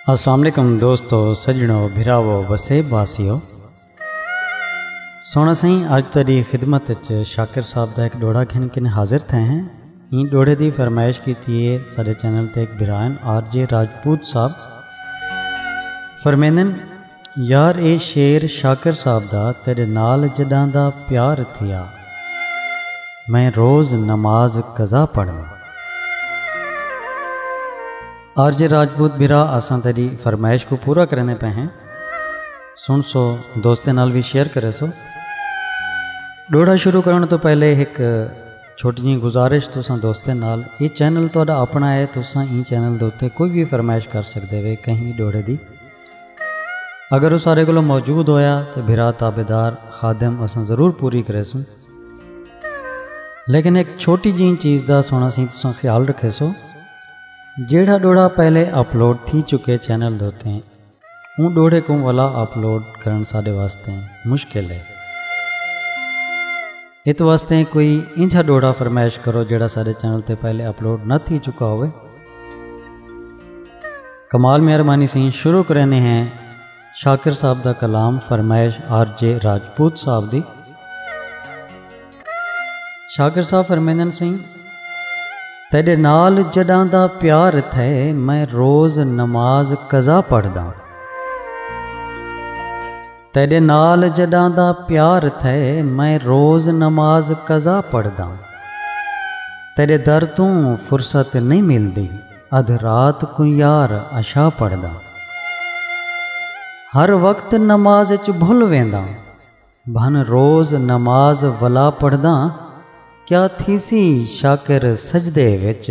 السلام علیکم دوستو سجنو بھراو وسیب واسیو سونا سائیں اج تیری خدمت وچ شاکر صاحب دا ایک ڈوڑا گھن کن حاضر تھے ہیں این ڈوڑے دی فرمائش کیتی ہے سارے چینل تے ایک برائن آر جے راجپوت صاحب فرمیندن یار اے شعر شاکر صاحب دا تیڈے نال جڈاں دا پیار تھیا میں روز نماز قضا پڑھنا۔ آر جے راجپوت بھرا اساں تیڈی فرمائش کوں پورا کریندے پئے ہیں سن سو دوستیں نال وی شیئر کرے سو۔ ڈوڑا شروع کرن تو پہلے ہک چھوٹی جی گزارش تساں دوستیں نال اے چینل تہاڈا اپنا ہے تساں ایں چینل دے اوتے کوئی وی فرمائش کر سکدے وے کہیں وی ڈوڑے دی۔ اگر او سارے کولوں موجود ہویا تے بھرا تابیدار خادم اساں ضرور پوری کریسوں لیکن ایک چھوٹی جی چیز دا سونا سی تساں خیال رکھیسو جیڑھا ڈوڑا پہلے اپلوڈ تھی چکے چینل دوتے ہیں اون ڈوڑے کو والا اپلوڈ کرن ساڈے واسطے مشکل ہے ات واسطے کوئی انجھا ڈوڑا فرمائش کرو جڑا سارے چینل تے پہلے اپلوڈ نہ تھی چکا ہوئے کمال مہربانی سی شروع کرنے ہیں شاکر صاحب دا کلام فرمائش آر جے راجپوت صاحب دی شاکر صاحب فرمیندن سی تیڈے نال جڈاں دا پیار تھے میں روز نماز قضا پڑھ دا تیڈے نال جڈاں دا پیار تھے میں روز نماز قضا پڑھداں تیڈے در توں فرصت نہیں ملدی ادھ رات کو یار عشاء پڑھداں ہر وقت نماز اچ بھل وینداں بھن روز نماز ولا پڑھداں کیا تھیسی شاکر سجدے وچ